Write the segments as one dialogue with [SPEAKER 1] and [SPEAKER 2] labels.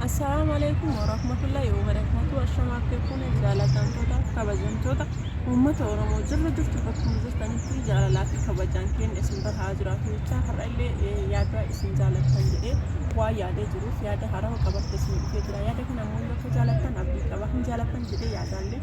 [SPEAKER 1] Assalaamu alaikum warahmatullahi wabarakatuh Ashama akkekuune jaalatamtoota kabajamtoota uummata Oromoo jirra jirtu bakkuma jirtanitti jaalalaa fi kabajaan keenya isin bira haa jiraatu jechaa har'a illee eh, yaada isin jaalattan jedhee waa yaadee jiruuf yaada harawa qabatte isin dhufee jira yaada kana immoo yoo akka jaalattan abdii qaba hin jaalattan jedhee yaadaallee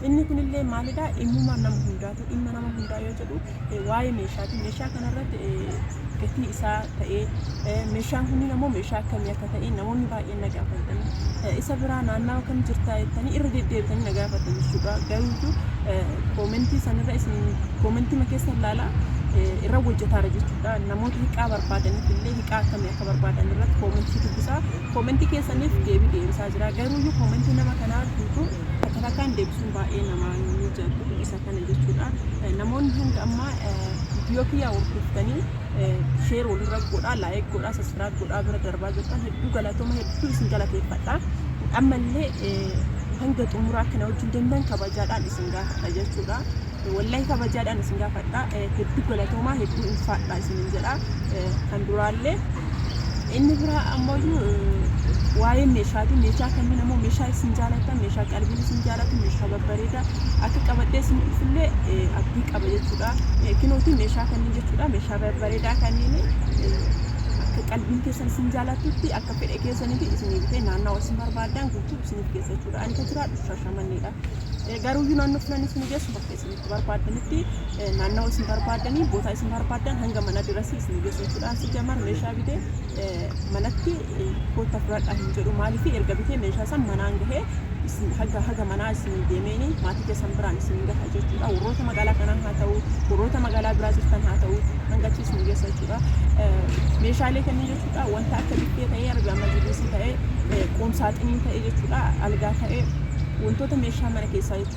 [SPEAKER 1] inni kunillee maalidha dhimmuma nama hundaatu dhimma nama hundaa yoo jedhu eh, waa'ee meeshaati. Meeshaa kanarratti eh, gatii isaa ta'ee eh, meeshaan kunniin ammoo meeshaa akkamii akka ta'e namoonni baay'een na gaafatanii eh, isa biraa naannawa kam jirtaa jettanii irra deddeebitanii na gaafatan jechuudha. Garuutu eh, koomentii sanirra isin koomentima keessa ilaalaa eh, irra hojjetaara jechuudha. Namoota hiqaa barbaadaniif illee hiqaa akkamii akka barbaadan irratti koomentii dubbisaa koomentii keessaniif deebii deebisaa jira. Garuuyyuu koomentii nama kanaa guutuu takka takkaan deebisuun baay'ee nama mijatu isa Kana jechuudhaan namoonni hanga ammaa viidiyoo kiyyaa hordoftanii sheer walirra godhaa, laayik godhaa, saskiraayib godhaa bira darbaa jirtan hedduu galatooma hedduu isin galateeffadha. Ammallee hanga xumuraa kana wajjin deemtan kabajaadhaan isin gaafadha jechuudha. Wallahi kabajaadhaan isin gaafadha. Hedduu galatoomaa hedduu ulfaadha isinin jedha. Kan duraallee Inni biraa ammoo waa'ee meeshaati. Meeshaa kanneen ammoo meeshaa isin jaalatan, meeshaa qalbiin isin jaalatu, meeshaa babbareedaa akka qabadhee isin dhufullee abdii qaba jechuudha. Kinootii meeshaa kanneen jechuudha. Meeshaa babbareedaa kanneen akka qalbiin keessan isin jaalatutti akka fedha keessanitti isin bitee naannawa isin barbaadan guutuu isiniif geessa jechuudha. Ani kan jiraadhu shashamanneedha. Garuu iyyuu naannoo filan isin geessu bakka isinitti barbaaddanitti naannawa isin barbaaddanii bootaa isin barbaaddan hanga mana dirasii isin geessu jechuudhaan si jamar meeshaa bitee manatti kootta fudhadhaa hin jedhu maaliif erga bitee meeshaa san manaan gahee isin haga haga manaa isin deemeeni maatii keessan biraan isin gaha jechuudha warroota magaalaa kanaa haa ta'u warroota magaalaa biraa jirtan haa ta'u hanga achi isin geessa jechuudha meeshaalee kanneen jechuudha wanta akka bittee ta'ee arbi amma jiruusi ta'ee qoomsaaxinii ta'ee jechuudha algaa ta'ee wantoota meeshaa mana keessaa jechuudha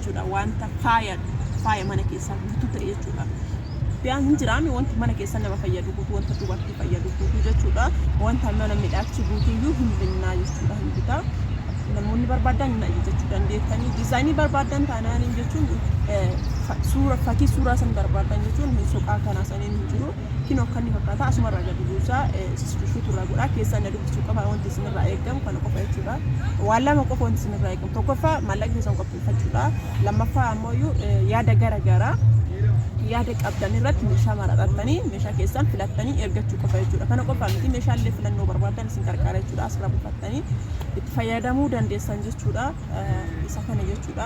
[SPEAKER 1] jechuudha. Wanta faaya faaya mana keessaa guutuu ta'e jechuudha. Biyaan hin jiraame wanti mana keessa nama fayyadu guutuu wanta dubartii fayyadu guutuu jechuudha. Wanta mana midhaagsu guutuyyuu hin binnaa jechuudha hin bitaa. Namoonni barbaadan hin ajajachuu dandeettanii diizaayinii barbaadan taanaan jechuun suura fakkii suuraa san barbaadan jechuun soqaa kanaa saniin hin jiru. Kinoo akkan ni fakkaata asumarraa gadi buusaa subscribe irraa godhaa keessaan na dubbisuu qaba wanti isinirraa eegamu kana qofa jechuudha waan lama qofa wanti isinirraa eegamu tokkoffaa maallaqa keessan qopheeffachuudha lammaffaa ammoo iyyuu yaada gara garaa yaada qabdan irratti meeshaa maraxattanii meeshaa keessan filattanii ergachuu qofa jechuudha kana qofa miti meeshaalee filannoo barbaadan isin qarqaara jechuudha asirraa buufattanii itti fayyadamuu dandeessan jechuudha. isa kana jechuudha.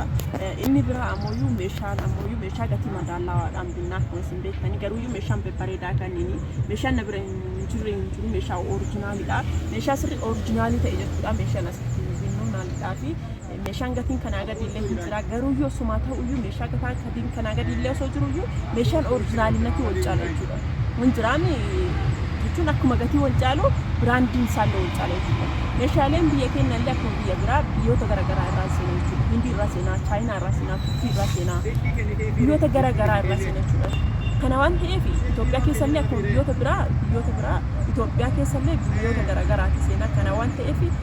[SPEAKER 1] Inni biraa ammoo meeshaan ammoo meeshaa gatii madaallawaadhaan binnaa akkuma isin beektanii garuu meeshaan babbareedaa kanneen meeshaan na bira hin jirre hin jiru meeshaa orijinaaliidha. Meeshaa sirrii orijinaalii ta'e jechuudha meeshaan asitti binnu naallidhaa fi meeshaan gatiin kanaa gadiillee hin jira garuu yoo sumaa ta'uyyuu meeshaa gataa Ittiin kanaa gadi illee osoo jiru iyyuu meeshaan orijinaalii natti wal caala jechuudha. Wanjiraan jechuun akkuma gatii wal caalu biraandiin isaallee wal caala jechuudha. Meeshaaleen biyya keenya illee akkuma biyya biraa biyyoota garaagaraa irraa seenaa jechuudha. Hindii irraa seenaa, Chaayinaa irraa seenaa, Turkii irraa seenaa, biyyoota garaagaraa irraa seenaa jechuudha. Kana waan ta'eef Itoophiyaa keessa illee akkuma biyyoota biraa biyyoota biraa Itoophiyaa keessa illee biyyoota garaagaraati seenaa kana waan ta'eef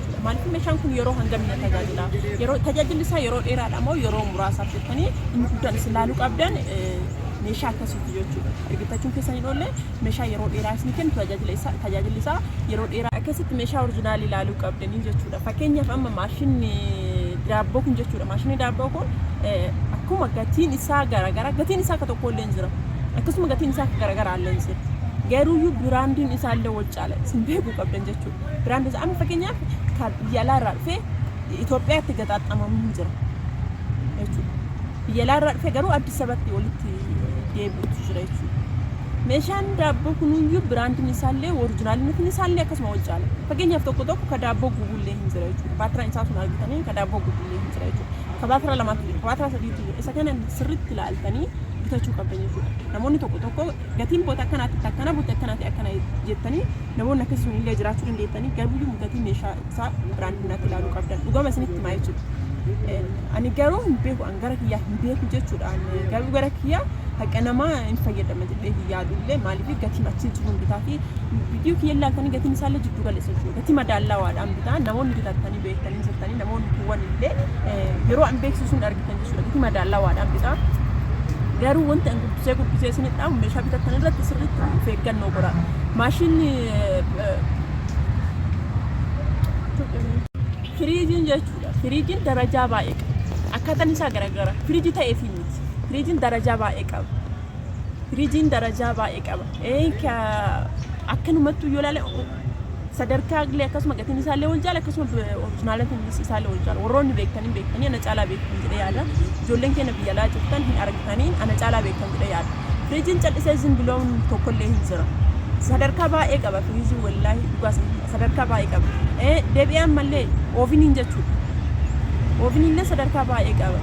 [SPEAKER 1] jechuudha. Maaliif meeshaan kun yeroo hangam na tajaajila? Yeroo tajaajilli isaa yeroo dheeraadha moo yeroo muraasaaf jettanii inni guddaan isin laaluu qabdan meeshaa akkasiiti jechuudha. Ergifachuun keessan hin oolle meeshaa yeroo dheeraa isin kennu tajaajila isaa tajaajilli isaa yeroo dheeraa akkasitti meeshaa orijinaalii laaluu qabdanii jechuudha. Fakkeenyaaf amma maashinni daabboo kun jechuudha. Maashinni daabboo kun akkuma gatiin isaa garaagara gatiin isaa akka tokko illee hin jira. Akkasuma gatiin isaa akka garaagaraa illee hin jira. Garuuyyuu biraandiin isaa illee wal caala isin beekuu qabdan jechuudha. Biraandoota amma fakkeenyaaf kan biyya alaa irraa dhufee Itoophiyaatti gaxaaxamamu hin jira jechuudha. Biyya alaa irraa dhufee garuu Addis Ababatti walitti deebi'utu jira jechuudha. Meeshaan daabboo kunuyyuu biraandiin isaallee orijinaalinatiin isaallee akkasuma wal caala. Fakkeenyaaf tokko tokko ka daabboo gubullee hin jira jechuudha. Baatiraa isaa sun argitanii ka daabboo gubullee hin jira jechuudha. Ka baatiraa lamaatu jira, ka baatiraa sadiitu jira. Isa kana sirriitti ilaaltanii bitachuu qabdan jechuudha. Namoonni tokko tokko gatiin boota akkanaatti akkana boota akkanaatti akkana jettanii namoonni akkasii sun illee jiraachuu dandeettanii garuuyyuu gatii meeshaa isaa biraandii biraatti ilaaluu qabdan dhugama isinitti himaa jechuudha. Eh, Ani garuu hin beeku an gara kiyyaa hin beeku jechuudha an eh, garuu gara kiyyaa haqa namaa hin fayyadama jedhee hin yaadu illee maaliif gatiin achi jiru hin bitaa fi viidiyoo kiyya ilaaltanii gatiin isaa illee jiddu galeessa jechuudha gatii madaallawaadhaan bitaa namoonni bitattanii beektanii jirtanii namoonni kuwwan illee eh, yeroo an beeksisuun argitanii kan jechuudha. Gatii madaallawaadhaan bitaa. Garuu wanti an guddisee guddisee isinit dhaamu meeshaa bitattan irratti sirriitti of eeggannoo godhaa. Maashinni firiijiin jechuudha. Firiijiin darajaa baay'ee qaba. Akkaataan isaa garagara. Firiijii ta'ee fi miti. Firiijiin darajaa baay'ee qaba. Firiijiin darajaa baay'ee qaba. Ee, ka- Akkanumattuu yoo ilaale Sadarkaa illee akkasuma gatiin isaa illee wal caala akkasuma orijinaalatiin isaallee wal caala. Warroonni beektan hin beektanii ana caalaa beektan jedhee yaada. Ijoolleen keenya biyya alaa jirtan hin argitanii ana caalaa beektan jedhee yaada. Firiijiin callisee zim biloon tokko illee hin jira. Sadarkaa baay'ee qaba firiijiin wallaahi dhugaa sana sadarkaa baay'ee qaba. Eh, Deebi'ee ammallee ooviniin jechuudha. Ooviniin illee sadarkaa baay'ee qaba.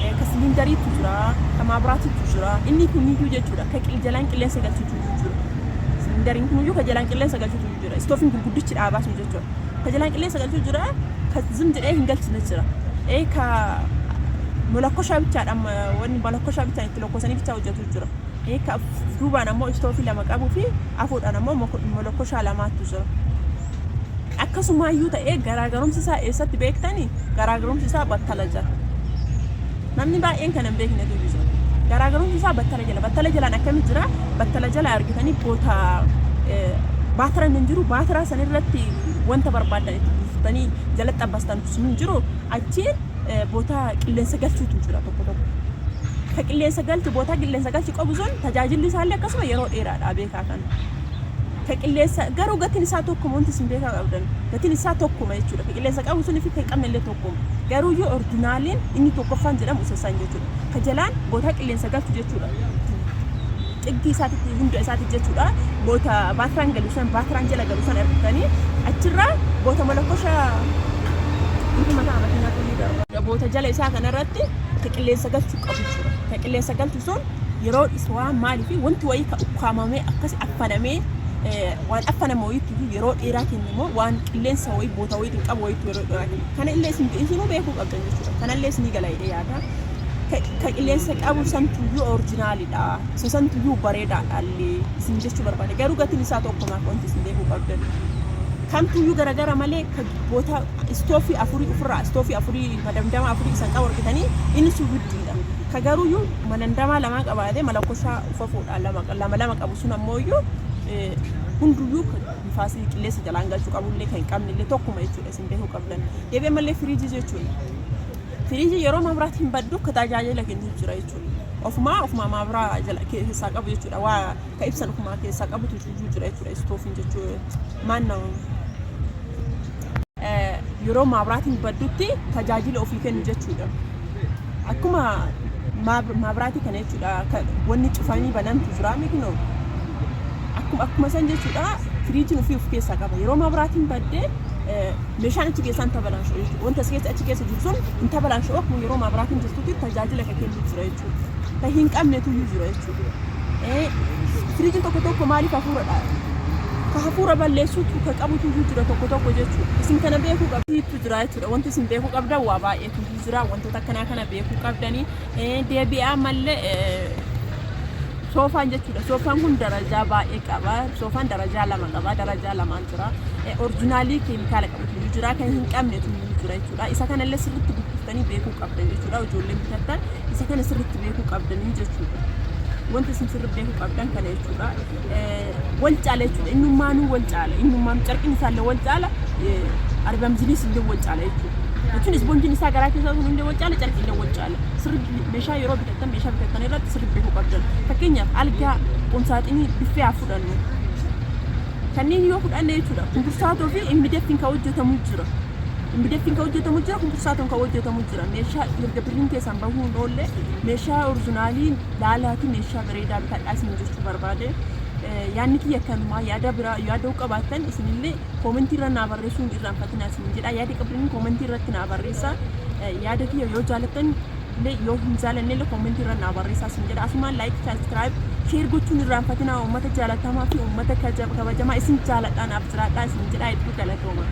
[SPEAKER 1] Eh, Ka siliindariitu jira, ka maabiraatiitu jira. Inni kun iyyuu jechuudha ka qil- jalaan qilleensa galchutu Siliindariin kuniyyuu ka jalaan qilleensa galchutu jira. Istoofiin gurguddichi dhaabaa sun jechuudha. Ka jalaan qilleensa galchu jira, ka zim jedhee hin galchine jira. Ee ka molakkoshaa bichaadhaan wanni molakkoshaa bichaan itti lokkosanii bichaa hojjetu jira. Ee ka duubaan ammoo istoofii lama qabuu fi afuudhaan ammoo molakkoshaa lamaatu jira. Akkasumaayyuu ta'ee garaagarumsi isaa eessatti beektani? Garaagarumsi isaa battala jira. Namni baay'een kan hin beeknetu jira. Garaagarumsi isaa battala jala. Battala jalaan akkami jira? Battala jala argitanii boota baatira hin jiru. Baatira san irratti wanta barbaaddan itti buuftanii jalatti abbastan sun hin jiru. Achiin boota qilleensa galchuutu jira tokko tokko. Ka qilleensa galchu boota qilleensa galchu qabu sun tajaajilli isaallee akkasuma yeroo dheeraadha beekaa kana. Ka qilleensa garuu gatiin isaa tokkuma wanti isin beekaa qabdan. Gatiin isaa tokkuma jechuudha. Ka qilleensa qabu sun fi kan qabne illee tokkuma. Kun garuuyyuu ordinaaliin inni tokkoffaan jedhamu isa san jechuudha. Ka jalaan bootaa qilleensa galchu jechuudha. Xiggi isaatitti hunda isaatiif jechuudha. Boota baatiraan galu san baatiraan jala galu san argitanii achirraa boota malakosha ifa mataa makiinaa tunii darba. Boota jala isaa kanarratti ka qilleensa galchu qabu jechuudha. Ka qilleensa galchu sun yeroo dhisu waan maalii fi wanti wayii ka ukkaamamee akkasi affanamee waan affaname wayiitti yeroo dheeraa kennu immoo waan qilleensa wayii boota wayiitiin qabu wayiitti yeroo kana illee isin isinuu beekuu qabdan jechuudha kana illee isinii gala jedhee yaada ka qilleensa qabu santuyyuu orijinaalidha isa santuyyuu bareedaadha illee isin jechuu barbaade garuu gatiin isaa tokkuma wanti isin beekuu qabdan kamtuyyuu garagara malee ka boota istoofii afurii ofirraa istoofii afurii madamdama afurii isan qabu argitanii inni sun guddiidha ka garuuyyuu manandamaa lamaa qabaatee malakkosaa ufafuudha lama lama qabu sun ammoo iyyuu hunduyyuu nifaasii qilleensa jalaan galchu qabullee kan hin qabnellee tokkuma jechuudha isin beekuu qabdan. Deebi'ee mallee firiijii jechuun firiijii yeroo mabraat hin baddu ka tajaajila kennuuf jira jechuudha. Ofumaa ofumaa mabraa jala keessaa qabu jechuudha. Waa ka ibsan ofumaa keessaa qabutu iyyuu jira jechuudha istoofiin jechuudha. Maannoo yeroo mabraatiin baddutti tajaajila ofii kennu jechuudha. akkuma maabraatii kana jechuudha wanni cufanii banantu jira mikno akkuma akkuma san jechuudha firiijiin ofii of keessaa qaba yeroo maabraatiin baddee meeshaan achi keessaa hin tabalaansho'u jechuudha wanta keessa achi keessa jiru sun hin tabalaansho'u akkuma yeroo maabraatiin jirtutti tajaajila kan kennu jira jechuudha kan hin qabnetu iyyuu jira jechuudha firiijiin tokko tokko maaliif hafuuradha ka hafuura balleessuutu ka qabutu iyyuu jira tokko tokko jechuudha isin kana beekuu qabdu jira jechuudha wanti isin beekuu qabdan waa baay'ee Hunduu jira wantoota akkanaa kana beekuu qabdanii deebi'aa mallee soofaan jechuudha soofaan kun darajaa baay'ee qaba soofaan darajaa lama qaba darajaa lamaan jira orjinaalii keemikaala qabu tuyyuu jira kan hin qabne tuyyuu jira jechuudha isa kanallee sirriitti gurgurtanii beekuu qabdan jechuudha ijoolleen bitattan isa kana sirriitti beekuu qabdanii jechuudha wanta isin sirriitti beekuu qabdan kana jechuudha wal caala jechuudha. Innummaanuu wal caala. Innummaanuu carqiin isaallee wal caala. Arbam ziliis illee wal caala jechuudha. Jechuun isboonjiin isaa garaa keessaa sun illee wal caala carqii illee wal caala. Sirri meeshaa yeroo bitattan meeshaa bitattan irratti sirri beekuu qabdan. Fakkeenyaaf algaa qomsaaxinii biffee haa fudhannu. Kanneen yoo fudhanne jechuudha kumbursaatoo fi immideeftiin kan hojjetamu jira. Immideeftiin kan hojjetamu jira kumbursaatoon kan hojjetamu jira. Meeshaa erga birriin keessaan bahuu hin oolle meeshaa orjinaaliin laalaati meeshaa bareedaa bitadhaa isin jechuu barbaade. Yaanni kiyya kanumaa yaada biraa yaada qabaattan isinillee koomentii irra naa barreessuun irraanfatinaa isin jedha. Yaada qabdanii koomentii irratti naa barreessa. Yaada kiyya yoo jaalattan illee yoo hin jaalanne illee koomentii irra naa barreessaa isin jedha. Asumaan laayik, saabskiraayib, sheer gochuun irraanfatinaa uummata jaalatamaa fi uummata kabajamaa isin jaaladhaa naaf jiraadhaa isin jedha hedduu galatooma.